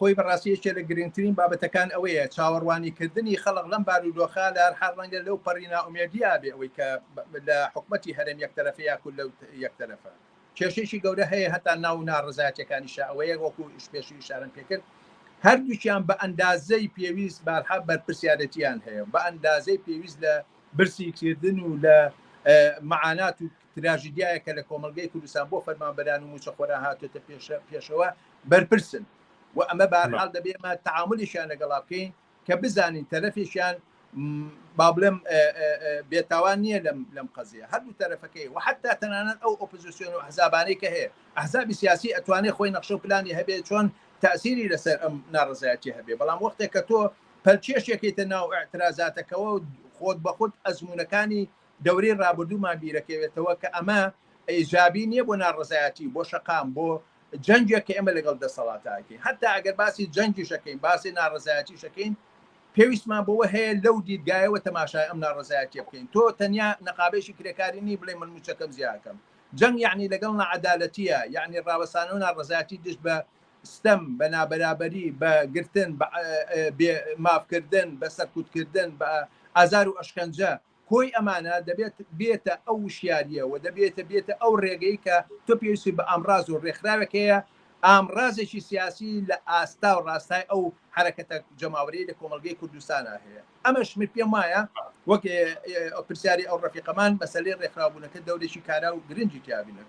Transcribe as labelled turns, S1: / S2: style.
S1: خۆی بەڕاستی یەکێ لە گرنگترین بابەتەکان ئەوەیە چاوەڕوانی کردنی خەڵق لەم بارودۆخە لە هەرحال ڕەنگە لەو پەڕی نائومێدیا بێ ئەوەی کە لە حکومەتی هەرێم یەک تەرەفە یا کول لەو یەک تەرەفە کێشێکی گەورە هەیە هەتا ناو ناڕزایەتەکانیشە ئەوەیە وەکو ئیشپێشی شارم پێکرد هەردووکیان بە ئەندازەی پێویست بارحا بەرپرسیارەتیان هەیە بە ئەندازەی پێویست لە برسی کردن و لە معانات و تراژیدیایە کە لە کۆمەڵگەی کوردستان بۆ فەرمانبەران و موچەخۆران هاتۆتە پێشەوە بەرپرسن و ئەمە بارحاڵ دەبێمە تعاملیشیان لەگەڵا بکەین کە بزانین تەرەفێکیان با بڵێم بێتاوان نییە لەم لەم قەزیە هەردوو تەرەفەکەی و حتا تەنانەت ئەو ئۆپزیسیۆن و حزابانەی کە هەیە ئەحزابی سیاسی ئەتوانێت خۆی نەخشە و پلانی هەبێت چۆن تاسیری لەسەر ئەم ناڕزایەتی هەبێ بەڵام وەختێک کە تۆ پەلکێشێکیتە ناو ئەترازاتەکەەوە خۆت بەخود ئەزمونونەکانی دەورەی ڕابردوومان بیرەکەوێتەوە کە ئەمە ئیجابی نیە بۆ ناڕەزایەتی و بۆ شەقام بۆ جەنگێک کە ئێمە لەگەڵ دەسەڵاتە ئەکەین هەتا ئەگەر باسی جەنگیشەکەین باسی ناڕەزایەتیشەکەین پێویستمان بۆوە هەیە لەو دیدگایەوە تەماشای ئەم ناڕەزایەتیە بکەین تۆ تەنیا نەقابێکی کرێکاری نی بڵێ من موچەکەم زیاکەم جەنگ یعنی لەگەڵ نەعەدالەتیە یعنی ڕاوەسانە و ناڕەزایەتی دژ بە ستەم بە نابەرابەری بە گرتن بە مافکردن بە سەرکوتکردن بە ئازار و ئەشکەنجە کۆی ئەمانە دەبێت بێتە ئەو وشیارییە و دەبێتە بێتە ئەو ڕێگەی کە تۆ پێویستی بە ئامڕاز و ڕێکخراوێک هەیە، ئامڕازێکی سیاسی لە ئاستا و ڕاستای ئەو حەرەکەتە جەماوەریەی لە کۆمەڵگەی کوردستانا هەیە. ئەمەش من پێم وایە وەک پرسیاری ئەو ڕەفیقەمان مەسەلەی ڕێکخراوبوونەکە دەورێکی کارا و گرنگی تیا بینم.